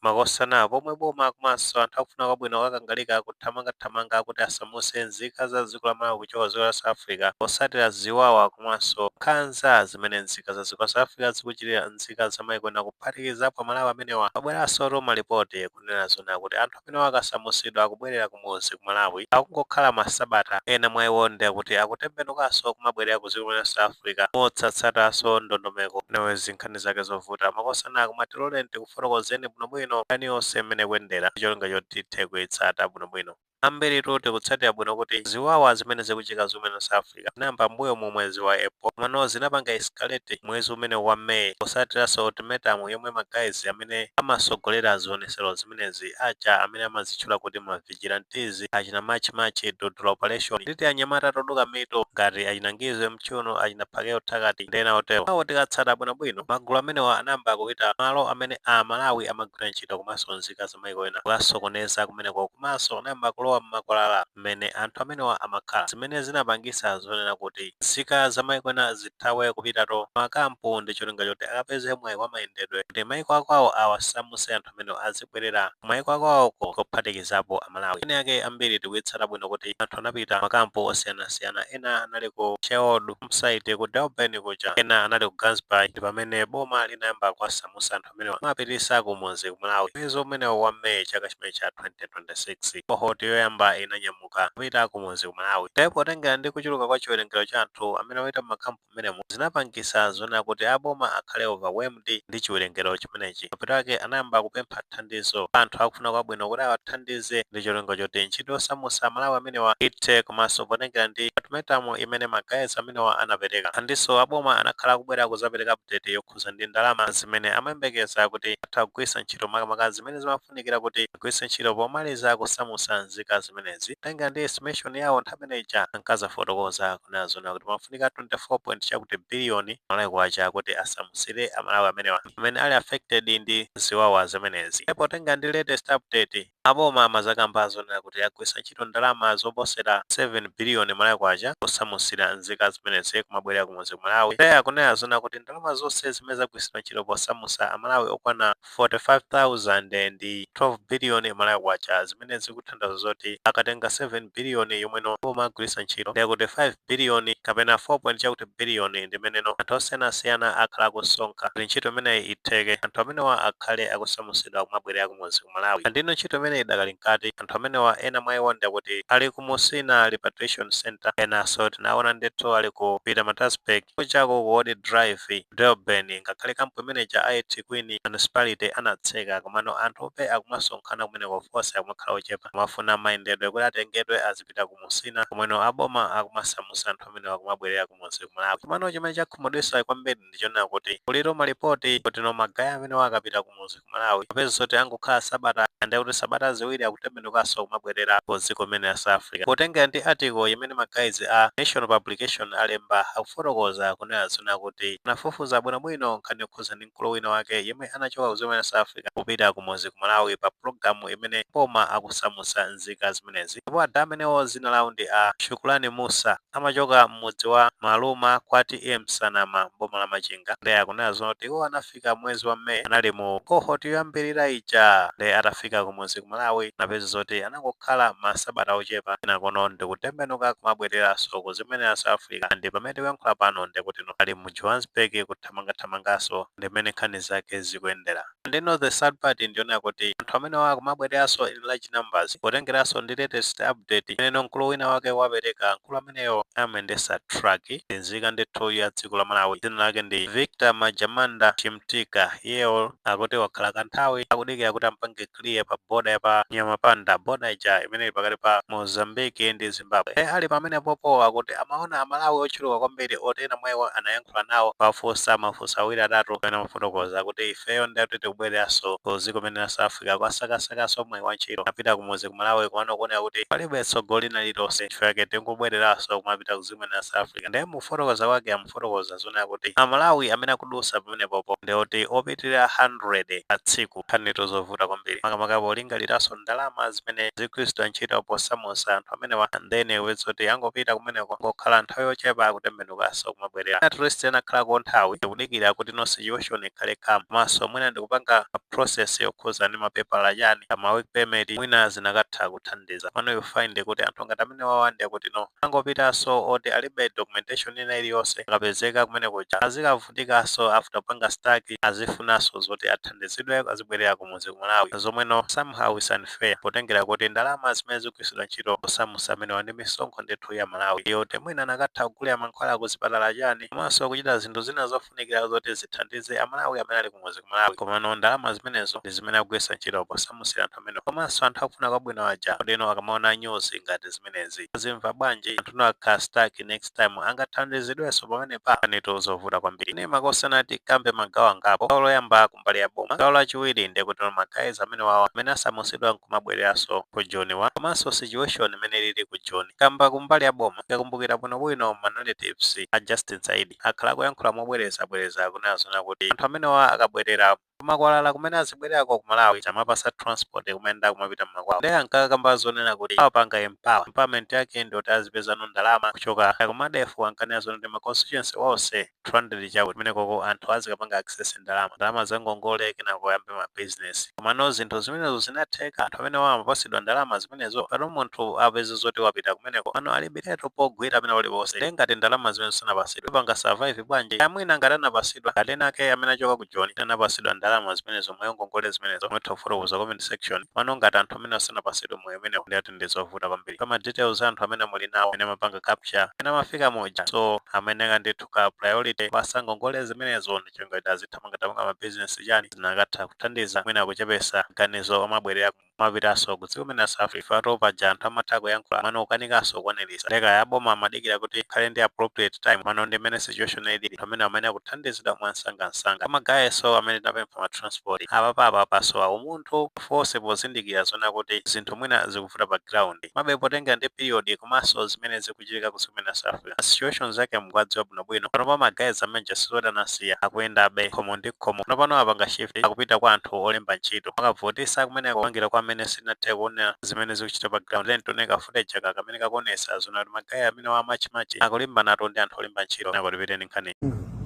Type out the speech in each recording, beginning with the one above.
Makosana pomwe boma komanso anthu akufuna kwabwino akukangalika kuthamangathamanga kuti asamutse nzika za dziko la Malawi kuchoka ku dziko la South Africa potsatira ziwawa komanso nkhanza zimene nzika za dziko la South Africa zikuchitira nzika za maiko ena kuphatikizapo amalawi amenewa. Kwabweransotu ma lipoti kunena zoona kuti anthu amenewa akasamutsidwa akubwelera kumudzi ku Malawi akungokhala ma sabata ena mwa iwo ndiye kuti akutembenukanso kumabwelera ku dziko limene la South Africa mosatsatanso ndondomeko. Anyways nkhani zake zovuta. Makosana koma tiloleni tiku. fotokozeni bwinobwino nkhani yonse mmene ikuyendera ndi cholinga choti tithe kuitsata bwinobwino. Ambiritu tikutsatira bwino kuti ziwawa zimene zikuchitika dziko limene la South Africa zinayamba m'mbuyomu mwezi wa April komano zinapanga escalate mwezi umenewu wa May potsatiranso ultimatum yomwe ma guys amene amatsogolera zionetsero zimenezi aja amene amadzitchula kuti ma vigilantes achina March March Dudula Operation ndi tianyamata toduka mitu ngati achina Ngizwe Mchunu achina Phakel'umthakathi ndi ena otero awo tikatsata bwinobwino magulu amenewa anayamba kupita malo amene a malawi amagwira ntchito komanso nzika za maiko ena kukasokoneza kumeneko komanso anayamba kulowa m'makwalala mmene anthu amenewa amakhala zimene zinapangisa zonena kuti nzika za maiko ena zithawe kupitatu makampu ndi cholinga choti akapeze mwayi wa mayendedwe kuti maiko akwawo awasamuse anthu amenewa azibwerera kumayiko akwawoko kuphatikizapo Amalawi eni ake ambiri tikuyitsata bwino kuti anthu anapita makampu osiyanasiyana ena anali ku Sherwood home site ku Durban kuja ena anali ku Gansbaai ndi pamene boma linayamba kuwasamusa anthu amenewa kumapitisa kumudzi ku Malawi mwezi umenewo wa May chaka chimene cha 2026 cohort yoyamba inanyamuka kupita kumudzi ku Malawi nde potengera ndi kuchuluka kwa chiwerengero cha anthu amene wapita mmakampu mmenemo zinapangisa zonena kuti a boma akhale overwhelmed ndi chiwerengero chimenechi. Mapeto ake anayamba kupempha thandizo kwa anthu akufuna kwabwino kuti awathandize ndi cholinga choti ntchito yosamusa a Malawi amenewa ithe komanso potengera ndi ultimatum imene ma guys amenewa anapereka. Andinso a boma anakhala akubwera kuzapereka update yokhuza ndi ndalama zimene amayembekeza kuti atha kugwirisa ntchito makamaka zimene zimafuna. zofunikira kuti agwiritse ntchito pomaliza kusamusa nzika zimenezi potengera ndi estimation yawo nthawi imene ija ankazafotokoza kunena zoona kuti pamafunika 24 point chakuti billion Malawi kwacha kuti asamusire a Malawi amenewa amene ali affected ndi ziwawa zimenezi. Ndipo potengera ndi latest update, a boma amazakamba zonena kuti agwiritsa ntchito ndalama zoposera 7 billion Malawi kwacha kusamusira nzika zimenezi kumabwerera kumudzi ku Malawi. Iye akunena zoona kuti ndalama zonse zimene zagwiritsidwa ntchito posamusa a Malawi okwana 45,000 ndi 12 billion Malawi Kwacha zimene zikuthandauza zoti akatenga 7 billion yomweno a boma agwilisa ntchito ndiye kuti 5 billion kapena 4 point chakuti billion ndimeneno anthu osiyanasiyana akhala akusonkha kuti ntchito imeneyi itheke anthu amenewa akhale akusamusidwa kumabwelera kumudzi ku Malawi and ino ntchito imeneyi idakali mkati anthu amenewa ena mwa iwo ndiye kuti ali ku Musina repatriation centre enaso tinaona ndithu ali ku Pietermaritzburg kujako ku Old Drive Durban ngakhale camp imene ija a eThekwini municipality anatseka komano anthu be akumasonkhana kumeneko of course akumakhala ochepa amafuna mayendedwe kuti atengedwe azipita ku musina komweno a boma akumasamusa anthu amenewa kumabwerera ku mudzi ku Malawi komano chimene chakhumudwisa kwambiri ndi chonena kuti kuli ma report kuti no ma guy amenewa akapita ku mudzi ku Malawi kupeza zoti angokhala sabata ndiye kuti sabata ziwiri akutembenukanso kumabwerera ku dziko limene la South Africa. Potengera ndi article imene ma guys a Nation Publication alemba, akufotokoza kunena zoona kuti anafufuza bwinobwino nkhani yokhudza ndi mkulu wina wake yemwe anachoka ku dziko limene la South Africa kupita kumudzi ku Malawi pa pulogalamu imene boma akusamutsa nzika zimenezi ndipo ada amenewo dzina lawo ndi a Shukurani Mussa amachoka m'mudzi wa Maluma kwa T/A Nsanama m'boma la Machinga ndiye akunena zoona kuti iwo anafika anafika mwezi wa May anali mu cohort yoyambirira ija nde atafika kumudzi ku Malawi anapeza zoti anangokhala ma sabata ochepa kenakono ndikutembenuka kumabwereranso ku dziko limene la South Africa and pamene tikuyankhula pano ndekutino ali mu Johannesburg kuthamangathamanganso ndi mmene nkhani zake zikuyendera and you know the sad part ndi yonena kuti anthu amenewa akumabwereranso in large numbers potengeranso ndi latest update imene mkulu wina wake wapereka mkulu amene ameneyo amayendesa truck ndi nzika ndithu ya dziko la Malawi dzina lake ndi Victor Majamanda Chimtika iyeyo akuti wakhala kanthawi akudikira kuti ampange clear pa border ya pa Nyamapanda border ija imene ili pakati pa Mozambique ndi Zimbabwe e ali pamenepopo akuti amaona amalawi ochuluka kwambiri oti ena mwa iwo anayankhula nawo kuwafunsa mafunso awiri atatu pamene amafotokoza kuti ifeyo ndati tikubwereranso ku dziko limene la South Africa kukasakasakaso mwayi wa ntchito apita kumudzi ku Malawi komano kuoneka kuti palibe tsogolo lina lililonse nchifukwa chake tingobweleraso kumapita ku dziko limene la South Africa nde mukufotokoza kwake amafotokoza zonena kuti a Malawi amene akudusa pamenepopo ndi oti opitilira 100 pa tsiku nkhanitu zovuta kwambiri makamaka polingaliraso ndalama zimene zikugwiritsidwa ntchito posamusa anthu amenewa then kupeza zoti angopita kumeneko kungokhala nthawi yochepa akutembenukaso kumabwelera at least akanakhalako nthawi ndikudikira kuti no situation ikhale calm komaso mwina ndikupanga ma process yokhuza ndi mapepala chani ma work permit mwina zikanatha kuthandiza pano you find kuti anthu ngati amene wawa nde kuti no angopitaso oti alibe documentation ina iliyonse akapezeka kumene kuja azikavutikaso after apanga stuck azifunaso zoti athandizidwe azibwerera kumuzi ku malawi zomwe no somehow is unfair potengera kuti ndalama zimene zikugwiritsidwa ntchito kusamusa amenewa ndi misonkho ndithu ya amalawi yoti mwina anakatha kugulira mankhwala ku zipatala chani komanso kuchita zinthu zina zof zofunikira zoti zithandize amalawi amene ali kumuzi kumalawi komano ndalama zimenezo ndi zimene akugwiritsa ntchito posamusira anthu amene komanso anthu akufuna kwabwino aja kodi no akamaona news ngati zimenezi azimva bwanji anthu no akhala stuck next time angathandizidwenso pamenepa pali zovuta kwambiri nde makosana tikambe magawo angapo gawo loyamba kumbali ya boma gawo lachiwiri ndiye kuti magayizi amene wawa amene asamusidwa nkumabwereranso ku joniwa komanso situation imene ilili ku joni kamba kumbali ya boma mukakumbukira bwinobwino manalitives a justin saidi akhala akuyankhula mobwerezabwereza kunena zona kuti anthu amenewa akabwerera kumakwalala kumene azibwererako ku Malawi tumawapasa transport kumayenda kumapita mmakwawo ndiye ankakamba zonena kuti awapanga empower empowerment yake ndi yoti azipezano ndalama kuchoka ku MEDF ankanena zona kuti ma constituency onse 200 chakuti kumenekoko anthu azikapanga access ndalama ndalama za ngongole kenako ayambe ma business Komano zinthu zimenezo zinatheka, anthu amenewa amapasidwa ndalama zimenezo pano munthu apeze zoti wapita kumeneko komano alibiretu pogwira pena palipose nde ngati ndalama zimenezo sanapasidwe apanga survive bwanji kaya mwina ngati anapasidwa ngati ena ake amene achoka ku joni anapasidwa ndalama zimenezo mwayi wa ngongole zimenezo mutha kufotokoza comment section komano ngati anthu amenewa sanapasidwe mwayi umenewo nde ati ndizovuta kwambiri koma details a anthu amene muli nawo amene amapanga capture amene amafika muja so amene akadaika ndithu ka priority kuwapasa ngongole zimenezo ndi cholinga choti azithamangathamanga ma business chani zikanatha kuthandiza mwina kuchepesa ganizo lomabwerera kumapitaso ku dziko limene la South Africa nde paja anthu amatha kuyankhula komano akukanikaso kukwanilisa ndekaya aboma amadikira kuti ikhale ndi appropriate time komano ndi mmene situation ilili anthu amene amene akuthandizidwa mwansangansanga kwa ma guys amene tinapempha ma transport apa pa apa pasowa umunthu of course pozindikira zona kuti zinthu mwina zikuvuta pa ground komabe potengera ndi period komanso zimene ziku chitika ku dziko limene la South Africa. Ma situation zake mukuwadziwa bwino bwino. Panopa ma guys amene aja sizoti anasiya. Akuyendabe khomo ndi khomo. Panopano apanga shift akupita kwa anthu olemba ntchito. Akuvutisa kumeneko kupangira kwa amene simunathe kuona zimene zikuchitika pa ground. Tiyeni tione ka footage aka kamene kakuonesa zona kuti ma guys amenewa a March and March akulimbanatu ndi anthu olemba ntchito. Kenako tipitenso ndi nkhani.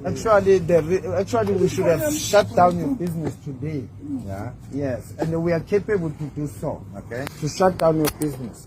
Actually, the re- actually we should have shut down your business today. Yeah. Yes, and we are capable to do so. Okay. To shut down your business.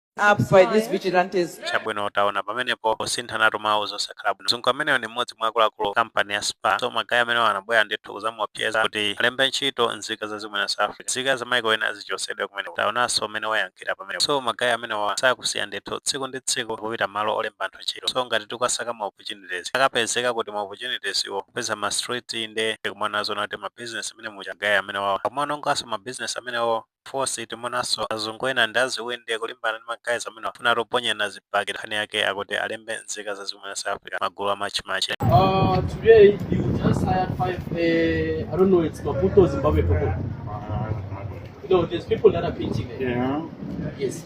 up by these vigilantes. chabwino taona pamenepo kusinthanatu mawu zosakhala bwino mzungu ameneyo ndi mmodzi mwa akuluakulu kampani ya SPAR so magayi amenewo anabwera ndithu kuzamuopseza kuti alembe ntchito nzika za dziko limene la South Africa nzika za maiko ena zichosedwe kumeneko taonanso mmene wayankhira pamenepo so magayi amenewa sakusiya ndithu tsiku ndi tsiku kupita malo olemba anthu ntchito so ngati tikasaka ma opportunities akapezeka kuti ma opportunities awo kupeza ma street nde tikumaona zoti ma business amene muja magayi amenewa akumaononganso ma business amenewo Of course timuonenso mzungu wina ndithu akulimbana ndi ma guys amenewa kufuna kuponyerana zibakera nkhani yake akuti alembe nzika za dziko la South Africa magulu a March and March. Uh, today you just hired five. Uh, I don't know. It's Maputo Zimbabwe people. No, there's people that are pitching. There. Yeah. Yes.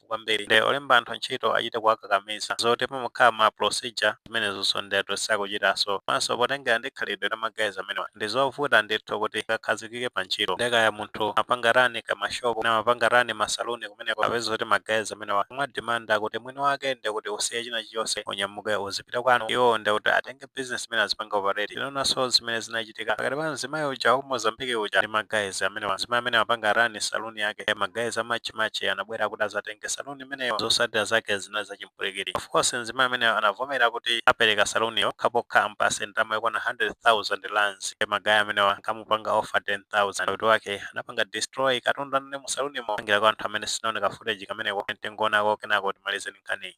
mphamvu kwambiri nde olemba anthu ntchito achite kuwakakamiza. Zoti pamakhala ma procedure zimenezonso ndetu sakuchitaso. Komanso potengera ndi khalidwe la ma guys amenewa ndizovuta ndithu kuti akakhazikike pa ntchito. Nde kaya munthu amapanga run ka ma shop kapena amapanga run ma saloon kumeneko apeze zoti ma guys amenewa akudimanda kuti mwini wake ndekuti usiye china chilichonse unyamuke uzipita kwanu iwowo ndekuti atenge business imene azipanga operate tinaonanso zimene zinachitika pakati pa mzimayi uja wa ku mozambique uja ndi ma guys amenewa mzimayi amene amapanga run saluni yake Eh, ma guys a March March anabwera kuti azatenge saluni imeneyo zotsatira zake zinali zachimpwirikiti of course mzimayi ameneyo anavomera kuti apereka saluniyo pokhapokha ampase ndalama yokwana 100,000 rands Eh, ma guys amenewa ankamupanga offer 10,000 kuti wake anapanga destroy katundu anali mu salunimo pangira kwa anthu amene sanaone ka footage kameneko tingoonako kenako timalizeni nkhani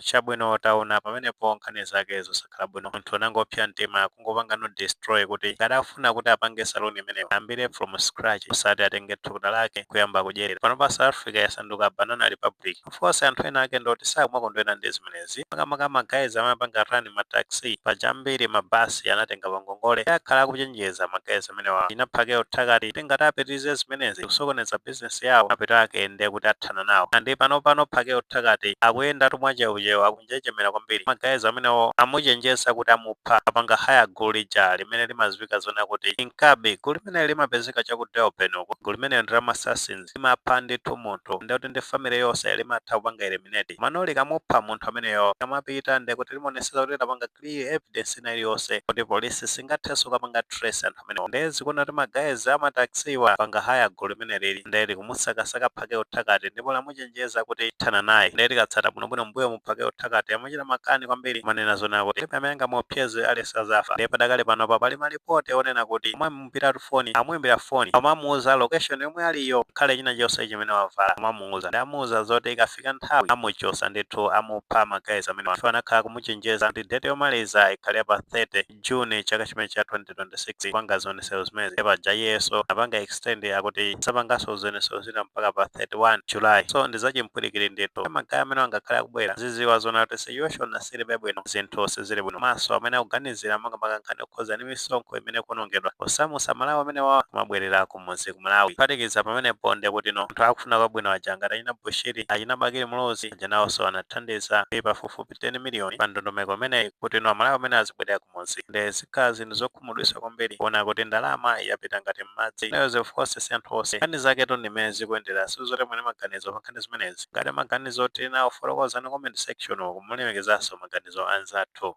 Chabwino taona pamenepo nkhani zake zosakhala bwino munthu anangopsa mtima kungopangano destroy kuti ngati akufuna kuti apange saloon imeneyo ayambire from scratch osati atenge thukuta lake nkuyamba kudyerera. Panopa South Africa yasanduka banana republic. Of course anthu ena ake ndi oti sakumakondwera ndi zimenezi makamaka ma guys amene amapanga run ma taxi. Paja ambiri ma bus anatenga pa ngongole ndiye akhala akuchenjeza ma guys amenewa achina Phakel'umthakathi kuti ngati apitirize zimenezi kusokoneza business. business yawo mapeto ake nde kuti athana nawo and panopano Phakel'umthakathi akuyendatu mwa cheucheu akunjenjemera kwambiri ma guys amenewo amuchenjeza kuti amupha apanga hire gulu lija limene limaziwika zonena kuti inkabi gulu limene limapezeka cha ku Durban uko gulu limene ndi la ma assassins limapha ndithu munthu nde kuti ndi family yonse limatha kupanga eliminate mano likamupha munthu ameneyo kamapita nde kuti limaonetsetsa kuti lapanga clear evidence ina iliyonse kuti polisi singathenso kapanga trace anthu amenewo nde zikuona kuti ma guys a ma taxi wa apanga hire gulu limenelili nde likumusakasaka Phakel'umthakathi ndipo lamuchenjeza kuti lithana naye nde tikatsata bwinobwino m'mbuyomu Phakel'umthakathi amachita makani kwambiri kumanena zonena kuti palibe amene angamuopseze aliyense azafa nde padakali panopa pali malipoti onena kuti amamuimbiratu foni amuimbira foni amamuuza location yomwe aliyo ngakhale china chonse chimene wavala amamuuza nde amuuza zoti ikafika nthawi amuchosa ndithu amupha ma guys amenewa chifukwa anakhala akumuchenjeza kuti date yomaliza ikhale pa 30 June chaka chimene cha 2026 kupanga zionesero zimenezi ndiye paja iyenso anapanga extend akuti azapanganso zionesero zina mpaka pa 31 July so ndi zachimpwirikiti ndithu ma guys amene angakhale akubwera aziziwa zonena kuti situation silibe bwino zinthu sizili bwino komanso amene akuganizira makamaka nkhani yokhudzana ndi misonkho imene ikuonongedwa posamusa aMalawi amenewa kumabwerera kumudzi ku Malawi kuphatikiza pamenepo ndiye kuti no anthu akufuna kwabwino aja ngati achina Bushiri achina Bakili Muluzi aja nawonso anathandiza ndi pafupifupi 10 miliyoni pa ndondomeko imeneyi kuti no amalawi amene azibwerera kumudzi nde zikhala zinthu zokhumudwisa kwambiri kuona kuti ndalama yapita ngati m'madzi nayo of course si anthu onse nkhani zaketu ndi mmene zikuyendera sizoti muli ndi maganizo pa nkhani zimenezi ngati maganizo muli nawo fotokozani comment section uku mukulemekezanso maganizo anzathu